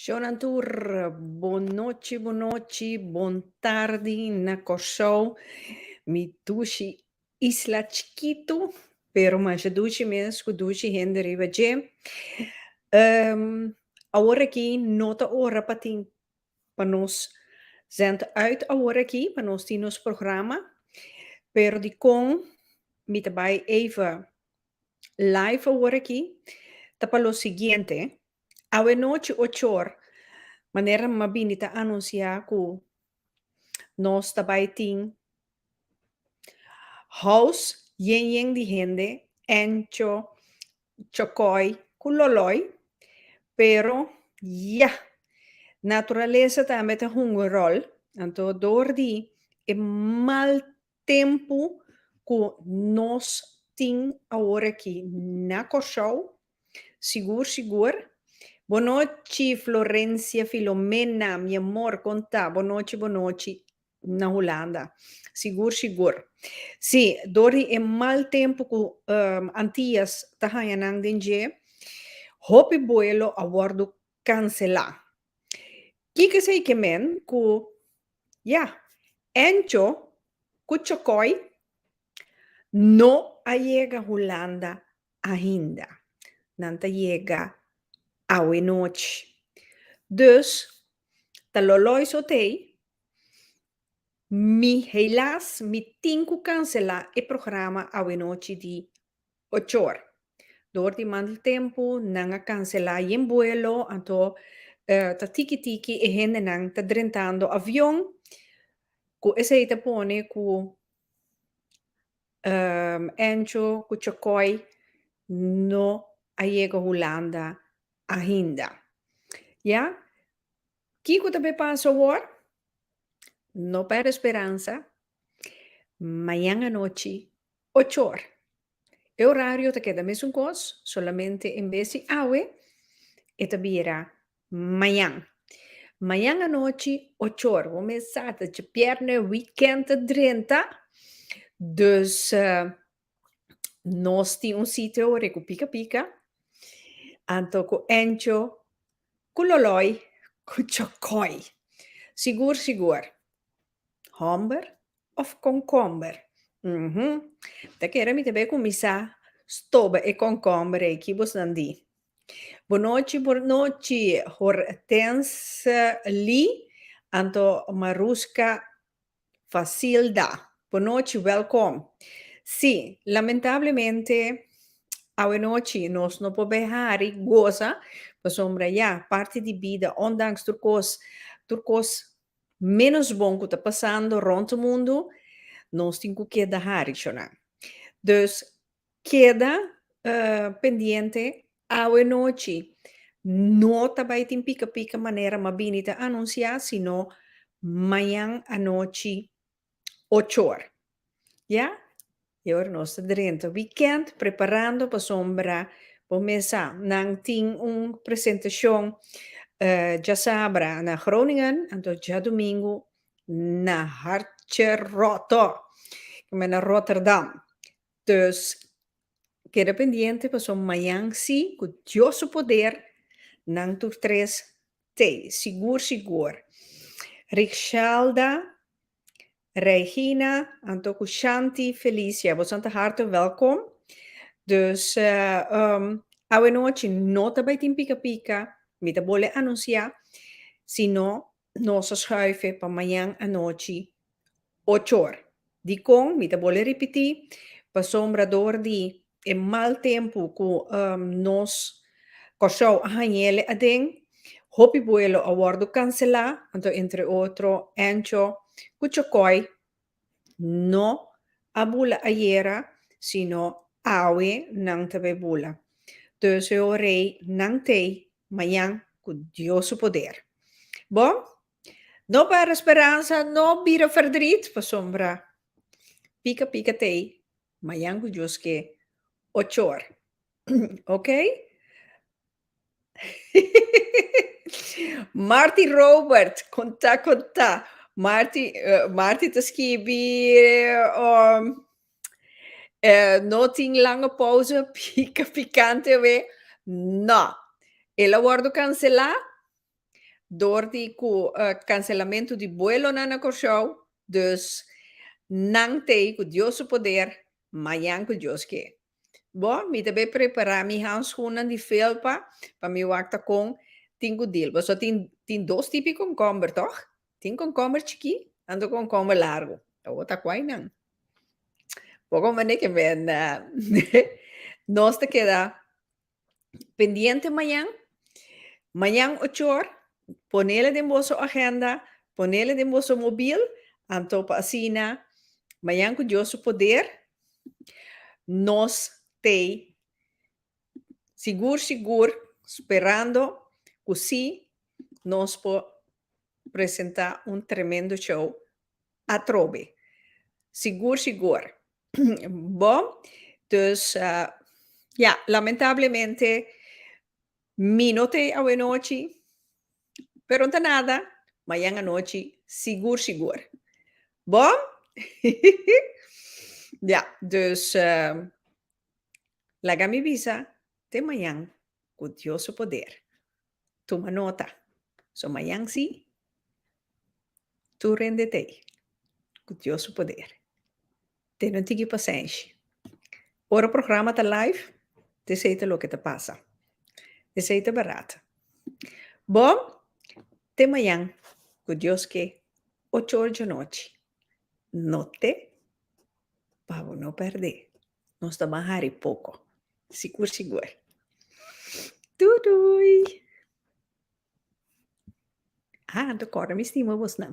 Shonan tur, bon nochi, bon nochi, bon tardi na Kòrsou. Mi dushi isla chikitu, pero masha dushi mes ku dushi hende riba dje. Awor aki no ta ora pa tin, pa nos zend uit awor aki, pa nos tin nos programa, pero dikon mi ta bai even Live awor aki ta pa lo siguiente, Awe nochi ochor, manera nan a bini ta anuncia cu nos ta bay tin house yen yen di hende, Encho, Chocoy cu Loloy, pero ya, naturalesa tambe ta hunga rol, anto door di e mal Tempu ku nos tin aworakí na Kòrsou, sigur sigur. Bonochi Florencia Filomena, mi amor, kon ta? Bonochi bonochi na Hulanda. Sigur sigur. Sí, dor di e mal tempu ku Antias ta haña nan den dje, hopi buelo a wòrdu kanselá. Kiko esei ke men ku ya Encho ku Chokoi no a yega Hulanda ainda. Nan ta yega awe nochi. Dus ta loloi sotei mi heilas mi tin ku kanselá e programa awe nochi di Ochor. Dor di manti tempu nan a kanselá yen buelo, anto ta tiki tiki e hendenan ta drentando avion ku esei ta pone ku Ancho ku Chokoi no a yega Hulanda ainda. Ya Kiko ta be pasa awor? No pèrdè speransa, mañan anochi ocho or. E orario ta keda mesun kos, solamente en bes di awe e ta bira mañan. Mañan anochi ocho or, bo mes sa ta dje bièrnè, wikènt ta drenta, dus nos tin un sitio awor e ku pika pika, anto ku Encho. Cu loloi, cu chocoi. Sigur, sigur. Homber of concomber? Uhm. Ta kere mi ta bay cuminsa stoba e concomber ey, ki bosnan di? Bonochi, bonochi, Hortense Lee, anto Maruska Facilda, Bo nochi, welkom. Sí, lamentablemente awe nochi nos no por bai hari goza pasobra ya parti di bida ondanks tur kos tur kos menos bon ku ta pasando rond mundu nos tin ku keda hari cho nan. Dus. Keda pendiente awe nochi no ta bai tin pika pika manera Mabini ta anunsia sino mañan anochi ocho or ya y awer nos ta drenta weekend preparando pasobra bo mes sa nan tin un presentacion diasabra na Groningen anto diadomingo na Hartje Roto kibera na Rotterdam Dus, keda pendiente pasobra mañan si, ku Dios su poder, nan tur tres t'ei sigur sigur. Richelda, Regina, anto ku Shanti, Felicia, abusan ta harte wèlkom. Dus, awenochi no ta bai tin pika pika, mi ta bole anunsiá, sino Nos a schuife pa mañan anochi ocho or. Dikon? Mi ta bole ripití, pasobra dor di e mal tempu ku nos Kòrsou a hañ'é aden, hopi buelo a wòrdu kanselá, anto entre otro Ancho ku Chokòi. no a bula ayera sino awe nan ta be bula entonces ho rey nan tey mañan cu Dios su poder bo no perde speransa no bira ferdrit pasobra pica pica tey mañan cu Dios ke ochor oke. Marti Robert, contá, contá. Marti, eh, Marti ta skibi um, eh, no tin langa pausa, pica picante we. No. El a wordo cancelá door di cu eh, cancelamento di buelonan na Kòrsou. Dus, nan t'ei cu Dios su poder, mañan cu Dios ke. Bo, mi ta bay prepara mi handschoennan di felpa pa mi wak ta con tin cu dil. Pasobra tin, tin dos tipi di komkomber, toch? Tin komkomber chikí, anto komkomber largo. Awor ta kuai nan. Bo con mane ke nos ta keda. pendiente mañan, mañan ochor, ponela den boso agenda, ponela den boso mobil, anto pa asina mañan cu Dios su poder nos tey sigur sigur sperando cu si nos por presenta un tremendo show Atrobe. Sigur sigur. Bo. Dus ya, lamentablemente mi no ta ei awe nochi, pero no ta nada, mayan anochi sigur sigur. Bo? Ya, dus laga mi bisa te mayan cu Dios su poder. Tuma nota. So mayan si, Tur hende ta ei ku Dios su poder. Te no tigi pasenshi. Ora programa ta live, ta esei ta loke ta pasa. Esei ta barat. Bo, te mañan ku Dios ke, ocho or djanochi. No te pa bo no pèrdè. Nos ta ban hari poko. Sigur sigur. Doei doei! Ah, anto kòrda mi stima bosnan.